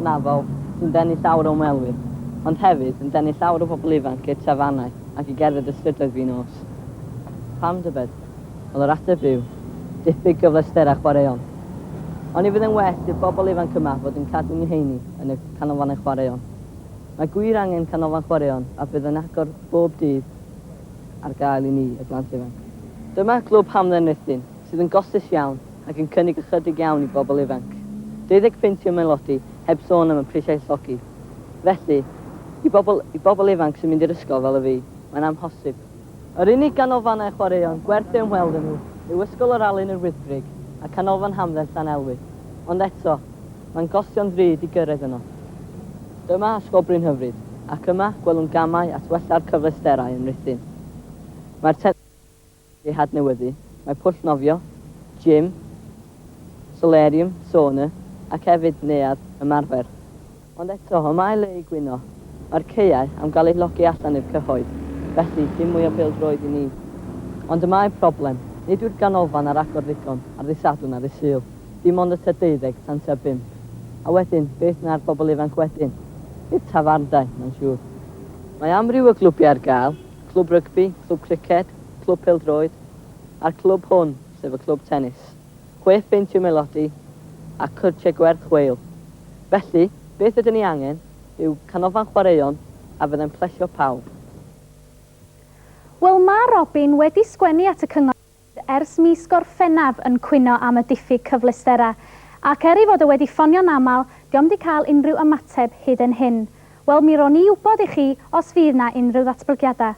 hynafol sy'n denu llawer o ymwelwyr, ond hefyd yn denu llawer o bobl ifanc i'r tafarnau ac i gerdded y strydoedd fin nos. Pam tybed? Wel, yr ateb yw, diffyg gyfleusterau chwaraeon. Oni fydd e'n well i'r bobl ifanc yma fod yn cadw'u heini yn y canolfannau chwaraeon? Mae gwir angen canolfan chwaraeon a bydd yn agor bob dydd ar gael i ni, y plant ifanc. Dyma Glwb Hamdden Ruthun, sydd yn gostus iawn, ac yn cynnig ychydig iawn i bobl ifanc. Deuddeg punt yw melodi, heb sôn am y prisiau llogi. Felly, i bobl, i bobl ifanc sy'n mynd i'r ysgol fel y fi, mae'n amhosib. Yr unig ganolfannau chwaraeon gwerth eu ymweld â nhw yw Ysgol yr Alun yr Wyddgrug a Canolfan Hamdden Llanelwy. Ond eto, mae'n gostio'n ddrud i gyrraedd yno. Dyma ysgol brin hyfryd, ac yma, gwelwn gamau at wella'r cyfleusterau yn Rhuthun. Mae'r ei hadnewyddu, mae pwll nofio, gym, solarium, sauna ac hefyd neuadd ymarfer. Ond eto, y mae le i gwyno. Mae'r caeau am gael eu llogi allan i'r cyhoedd, felly dim mwy o bêl-droed i ni. Ond y mae problem, nid yw'r ganolfan ar agor ddigon ar ddydd Sadwrn a ddydd Sul, dim ond y tŷ deuddeg tan tua bump. A wedyn, beth na'r bobl ifanc wedyn? I'r tafarndai, mae'n siŵr. Mae amryw o glwbiau ar gael, clwb rygbi, clwb criced, clwb pêl-droed, a'r clwb hwn, sef y clwb tennis. Chwe phint yw melodi a cyrtiau gwerth chweil. Felly, beth ydyn ni angen yw canolfan chwaraeon a fyddai'n plesio pawb. Wel, mae Robin wedi sgwennu at y cyngor. ers mis Gorffennaf yn cwyno am y diffyg cyfleusterau, ac er ei fod o wedi ffonio'n aml, diom di cael unrhyw ymateb hyd yn hyn. Wel, mi rown i wybod i chi os fydd 'na unrhyw ddatblygiadau.